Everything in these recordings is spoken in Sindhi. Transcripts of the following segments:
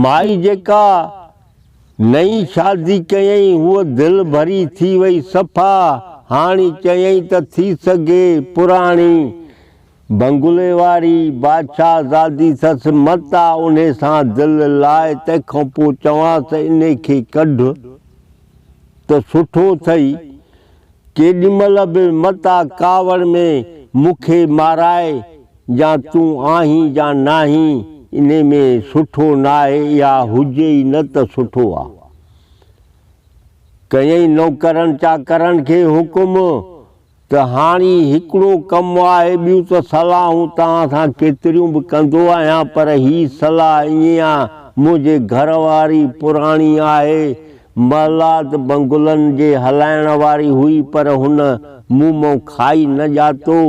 مائي جيڪا نئين شادي ڪيائين هوء دل ڀري ٿي وئي صفا هاڻي چيائين ته ٿي سگهي پراڻي بنگلي واري بادشاهه زادي سس متا انهي سان دل لاء تنهن کانپوء چوانس انهي کي ڪڍ ته سٺو ٿئي، ڪيڏي مھل به متان ڪاوڙ ۾ مون کي مارائي جا تون آھين جا ناھين، انھي ۾ سٺو ناھي اھا ھجي ئي نه ته سٺو آ. ڪيئي نوڪرن چاڪرن کي حڪم. ته هاڻي هڪڙو ڪم آهي، ٻيون ته صلاحون توهان سان ڪيتريون به ڪندو آهيان، پر هي صلاح ائين آ، منهنجي گهر واري پراڻي آهي، محلات بنگلن جي هلائڻ واري هئي، پر هن مون مان کائي نه ڄاتو،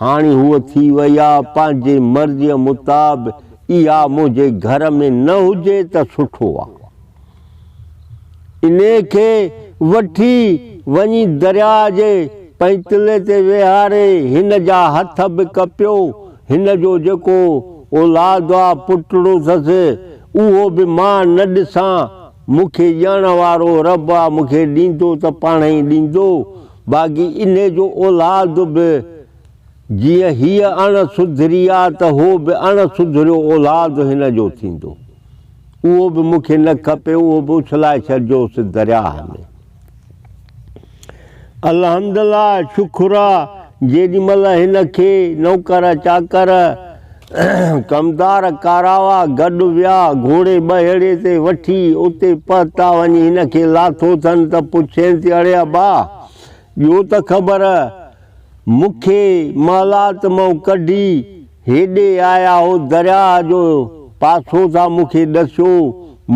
هاڻي هوء ٿي وئي آ، پنهنجي مرضيء متاب اها منهنجي گهر ۾ نه هجي ته سٺو آ. انهيء کي وٺي وڃي درياء جي پئتلي تي ويهاري هن جا هٿ به ڪپيو. هن جو جيڪو اولاد آ پٽڙوسس، اهو به مان نه ڏسان. مون کي ڄاڻڻ وارو رب آ، مون کي ڏيندو ته پاڻهئي ڏيندو، باقي انهيء جو اولاد به جيئن هيء اڻ سڌري آ ته هو به اڻ سڌريو اولاد هن جو ٿيندو. اهو به مون کي نه کپي اهو به اڇلائي ڇڏجوس درياهه ۾. الحمدالله شڪر آ جيڏي مهل هن کي نوڪر چاڪر ڪمدار ڪاراوا گڏ ويا گهوڙي ٻهيڙي تي وٺي اتي پهتا وڃي هن کي لاٿو ٿن ته پڇين ٿي اڙي ابا ٻيو ته خبر، مون کي محلات مان ڪڍي هيڏي آيا هو درياهه جو پاسو ٿا مون کي ڏسيو،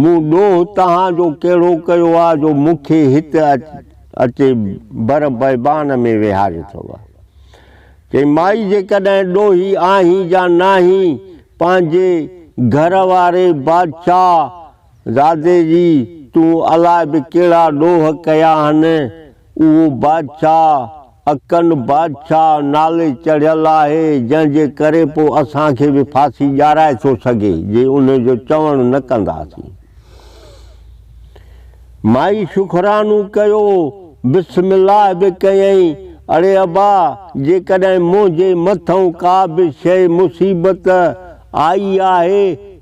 مون ڏوهه تهان جو ڪهڙو ڪيو آ جو مون کي هت اچي بر بيبان ۾ ويهاريو ٿئو. چئي مائي جيڪڏهن ڏوهي آهين جا ناهين پنهنجي گهر واري بادشاهه زادي جي، تون الاء به ڪهڙا ڏوهه ڪيا آهن، اهو بادشاهه اڪن بادشاهه نالي چڙهيل آهي، جنهن جي ڪري پوء اسان کي به ڦاسي ڄارائي ٿو سگهي، جي ان جو چوڻ نه ڪنداسين. مائي شڪرانو ڪيو، بسم الله به ڪيائين، اڙي ابا، جيڪڏهن منهنجي مٿئون ڪا به شيء مصيبت آئي آهي،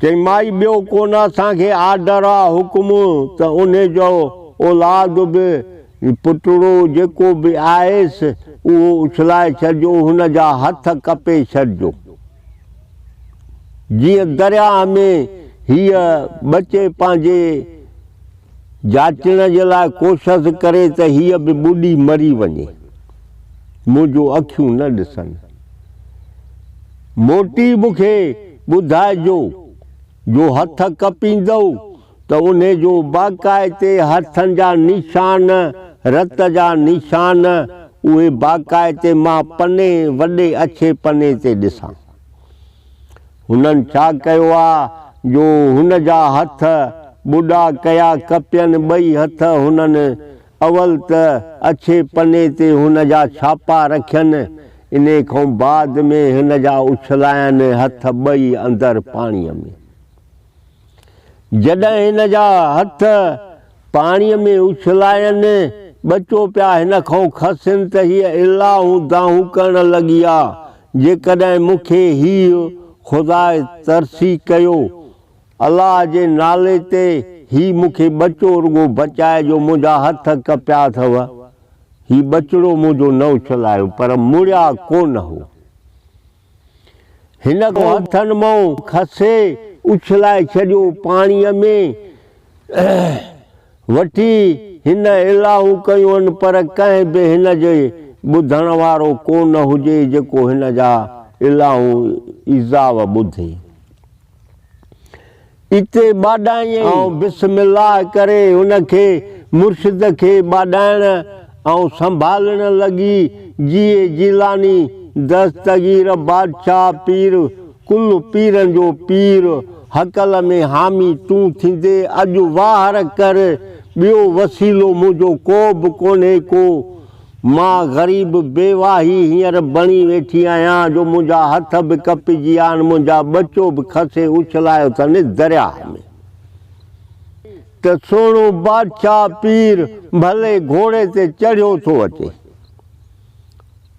چيائين، مائي ٻيو ڪو نه اسان کي آرڊر آ، حڪم، ته انهي جو اولاد به، پٽڙو جيڪو به آهيس، اهو اڇلائي ڇڏجو، هن جا هٿ ڪپي ڇڏجو. جيئن درياهه ۾ هيء ٻچي پنهنجي جاچڻ جي لاء ڪوشس ڪري ته هيء به ٻڏي مري وڃي. منهنجون اکيون نه ڏسن. موٽي مون کي ٻڌائجو، جو هٿ ڪپيندؤ ته انهي جو باقاعتي هٿن جا نشان، رت جا نشان، اهي باقاعتي مان پني وڏي اڇي پني تي ڏسان. هنن ڇا ڪيو آ جو هن جا هٿ ٻڏا ڪيا ڪپين ٻئي هٿ هنن اول ته اڇي پني تي هن جا ڇاپا رکين، انهي کان بعد ۾ هن جا اڇلاين هٿ ٻئي اندر پاڻيء ۾. جڏهن هن جا هٿ پاڻيء ۾ اڇلاين، ٻچو پيا هن کان کسين ته هيء الاهون دانهون ڪرڻ لڳي ها، جيڪڏهن مون کي هيء خداء ترسي ڪيو الله جي نالي تي هي مون کي ٻچو رڳو بچائي جو منهنجا هٿ ڪپيا اٿو. هي ٻچڙو منهنجو نه اڇلايو پر مڙيا ڪونه هو. هن کان هٿن مئون کسي اڇلائي ڇڏيو پاڻيء ۾ وٺي هن الائون ڪيون پر ڪنهن به هن جي ٻڌڻ وارو ڪونه هجي جيڪو هن جا الائون ايذاء ٻڌي. اتي ٻاڏائينء. آئون بسم الله ڪري ان کي مرشد کي ٻاڏائڻ ۽ سنڀالڻ لڳي جيء جيلاني دستگير بادشاهه پير ڪل پيرن جو پير هڪل ۾ حامي تون ٿيندي اڄ واهر ڪر ٻيو وسيلو منهنجو ڪو به ڪونهي ڪو مان غريب بيواهي هينئر بڻي ويٺي آهيان جو منهنجا هٿ به ڪپجي ويا آهن، منهنجا ٻچو به کسي اڇلايو اٿن درياهه ۾. ته سهڻو بادشاهه پير ڀلي گهوڙي تي چڙهيو ٿو اچي،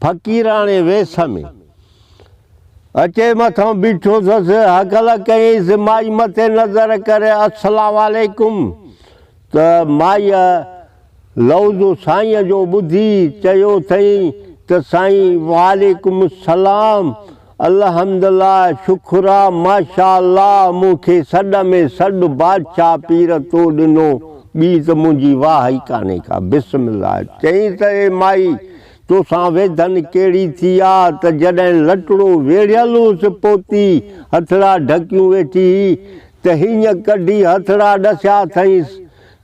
فقيراڻي ويس ۾. اچي مٿان بيٺو ٿس، هڪل ڪيائينس، مائي مٿي نظر ڪري، السلام عليڪم! ته مائيء لوظ سائينء جو ٻڌي چيو ٿئين ته سائين وعليڪم السلام الحمدالله شڪرا ماشاءالله مون کي سڏ ۾ سڏ بادشاهه پير تو ڏنو ٻي ته منهنجي واهه ئي ڪانهي ڪا بسم الله چئين ته اي مائي توسان ويڌن ڪهڙي ٿي آ ته جڏهن لٽڙو ويڙهيل هوس پوتي هٿڙا ڍڪيون ويٺي هئي ته هينئن ڪڍي هٿڙا ڏسيا اٿئينس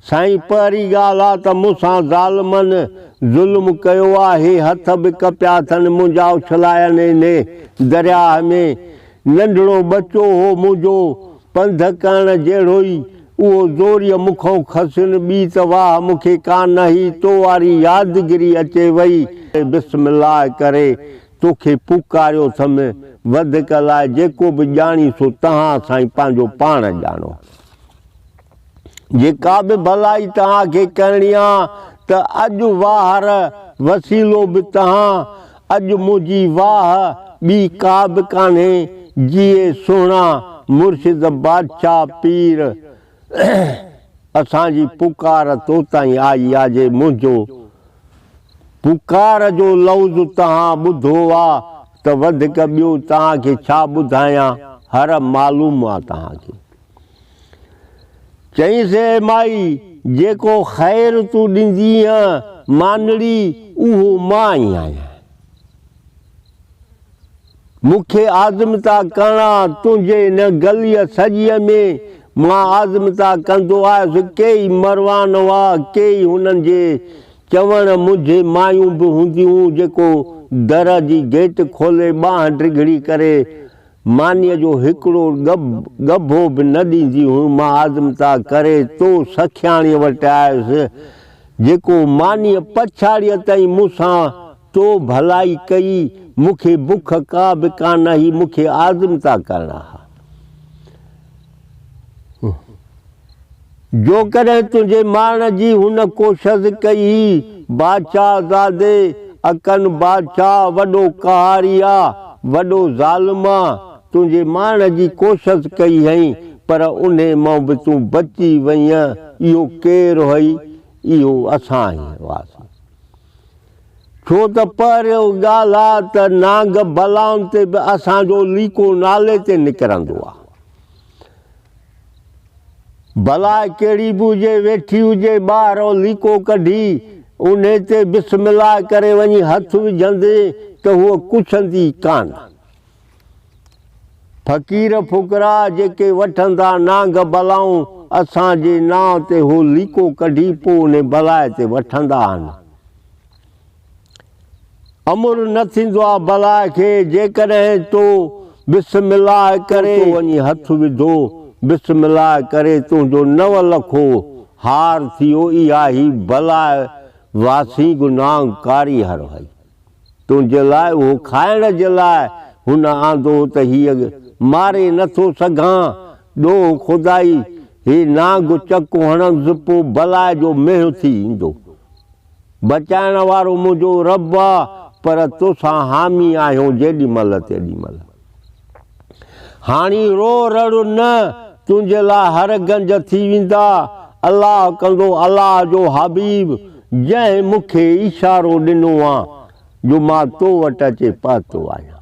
سائين پهرين ڳالهه آ ته مون سان ظالمن ظلم ڪيو آ هي هٿ به ڪپيا اٿن منهنجا اڇلايانئين ني درياهه ۾ ننڍڙو ٻچو هو منهنجو پنڌ ڪرڻ جهڙوئي اهو زوريء مون کان کسين ٻي ته واهه مون کي ڪا نه هي تو واري يادگري اچي وئي بسم الله ڪري تو کي پڪاريو ٿم وڌڪ لاء جيڪو به ڄاڻي سو تهان سائين پنهنجو پاڻ ڄاڻو. جيڪا به ڀلائي توهان کي ڪرڻي آ ته اڄ واهر وسيلو به تهان اڄ منهنجي واهه ٻي ڪا به ڪانهي جيئي سهڻا مرشد بادشاهه پير اسان جي پڪار تو تائين آئي آ جي منهنجو پڪار جو لوظ تهان ٻڌو آ ته وڌڪ ٻيو توهان کي ڇا ٻڌايان هر معلوم آ توهان کي. چيائينس، اي مائي! جيڪو خير تون ڏيندينء مانڙي، اهو مان ئي آهيان. مون کي آزمتا ڪرڻا تنهنجي ان گليء سڄيء ۾، مان آزمتا ڪندو آيس. ڪيئي مروان هئا، ڪيئي هنن جي چوڻ منجهه مايون به هونديون، جيڪو در جي گيٽ کولي، ٻانهن ڊگهڙي ڪري، مانيء جو هڪڙو ڳڀو به نه ڏيندي هيم. مان آزمتا ڪري تو سکياڻيء وٽ آيس، جيڪو مانيء پڇاڙيء تائين مون سان تو ڀلائي ڪئي. مون کي بک ڪا به ڪانه هئي، مون کي آزمتا ڪرڻا ها. جوڪڏهن تنهنجي ماڻهن جي هن ڪوشس ڪئي، بادشاهه زادي، اڪن بادشاهه وڏو قهاري آ، وڏو ظالم آ، تنهنجي ماڻهن جي ڪوشس ڪئي هئين، پر انهي مان به تون بچي وئينء، اهو ڪير هئي؟ اهو اسان ئي هئاسين. ڇو ته پهريون ڳالهه آ ته نانگ بلان تي به اسان جو ليڪو نالي تي نڪرندو آ. بلا ڪهڙي به هجي ويٺي هجي ٻاهران ليڪو ڪڍي انهي تي بسم الله ڪري وڃي هٿ وجهندين ته هوء ڪڇندي ئي ڪانه. فقير فقراء جيڪي وٺندا نانگ بلائون اسان جي نانء تي هو ليڪو ڪڍي پو انهي بلاء تي وٺندا آهن. امر نه ٿيندو آ بلاء کي جيڪڏهن تو بسم الله ڪري تو وڃي هٿ وڌو بسم الله ڪري تنهنجو نو لکو هار ٿيو اها هي بلاء واسينگ نانگ ڪاري هر هئي. تنهنجي لاء اهو کائڻ جي لاء هن آندو ته هيء ماري نه ٿو سگهان. ڏوهه خدائي، هي نانگ چڪ هڻندس پوء بلاء جو مينهن ٿي ايندو. بچائڻ وارو منهنجو رب آ، پر توسان حامي آهيون جيڏي مهل تيڏي مهل. هاڻي رو رڙ نه، تنهنجي لاء هر گنج ٿي ويندا. الله ڪندو الله جو حبيب جنهن مون کي اشارو ڏنو آ جو مان تو وٽ اچي پهتو آهيان.